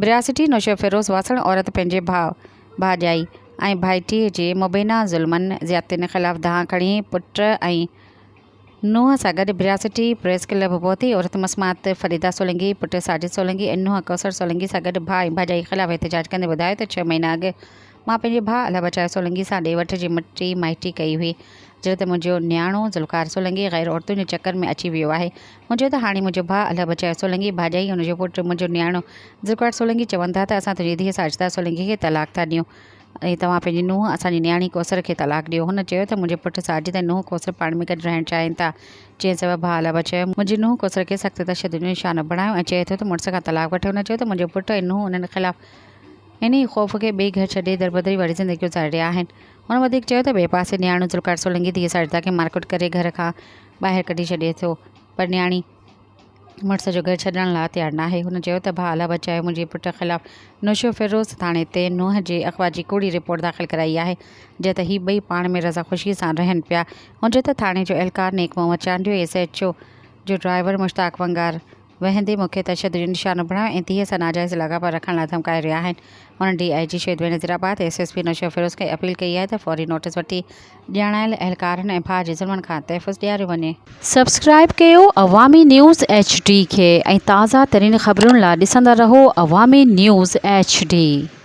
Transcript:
برياسيٺي نوشيروفيروز واسڻ عورت پنهنجي ڀاء، ڀاڄائي ۽ ڀائٽيء جي مبينا ظلمن، زيادتين خلاف دانهن کڻي پٽ ۽ نونهن سان گڏ برياسيٺي پريس ڪلب پهتي عورت مسمات فريده سولنگي، پٽ ساجد سولنگي ۽ نونهن ڪوثر سولنگي سان گڏ ڀاء ۽ ڀاڄائي خلاف احتجاج ڪندي ٻڌايو ته ڇهه مهينا اڳ مان پنهنجي ڀاء الله بچايو سولنگي سان ڏي وٺ جي مٽي مائٽي ڪئي هئي جڏهن ته منهنجو نياڻو ذوالقار سولنگي غير عورتن جي چڪر ۾ اچي ويو آهي منهنجو ته هاڻي منهنجو ڀاء الهه بچايو سولنگي ڀاڄائي ۽ ان جو پٽ منهنجو نياڻو ذوالفقار سولنگي چون ٿا ته اسان تنهنجي ڌيء ساجده سولنگي کي طلاق ٿا ڏيون ۽ توهان پنهنجي نونهن اسان جي نياڻي ڪوثر کي طلاق ڏيو هن چيو ته منهنجي پٽ ساجد ۽ نونهن ڪوثر پاڻ ۾ گڏ رهڻ چاهين ٿا جنهن سبب ڀاء الهه بچايو منهنجي نونهن ڪوثر کي سخت تشدد جو نشانو بڻايو ۽ چئي ٿو ته مڙس کان طلاق وٺ هن چيو ته منهنجو پٽ ۽ نونهن انهن خلاف انهيء خوف کي ٻئي گهر ڇڏي دربدري واري زندگي گذاري رهيا آهن هن وڌيڪ چيو ته ٻئي پاسي نياڻو ذوالفقار سولنگي ڌيء ساجده کي مارڪٽ ڪري گهر کان ٻاهر ڪڍي ڇڏي ٿو پر نياڻي مڙس جو گهر ڇڏڻ لاء تيار ناهي هن چيو ته ڀاء الله بچايو منهنجي پٽ خلاف نوشهرو فيروز ٿاڻي تي نوح جي اغوا جي ڪوڙي رپورٽ داخل ڪرائي آهي جنهن تي هي ٻئي پاڻ ۾ رضا خوشي سان رهن پيا هونجهو ته ٿاڻي جو اهلڪار نيڪ Muhammad Chandio ۽ S H O جو ڊرائيور مشتاق ونگار ويهندي مون کي تشدد جو نشانو بڻايو ۽ ڌيء سان ناجائز لاڳاپا رکڻ لاء ڌمڪائي رهيا آهن، هن ڊي آء جي شيد Benazirabad, S S P Naushahro Feroze کي اپيل ڪئي آهي ته فوري نوٽيس وٺي ڄاڻايل اهلڪارن ۽ ڀاء جي ظلمن کان تحفظ ڏياريو وڃي. سبسڪرائيب ڪيو عوامي نيوز ايڇ ڊي کي ۽ تازه ترين خبرن لا ڏسندا رهو عوامي نيوز ايڇ ڊي.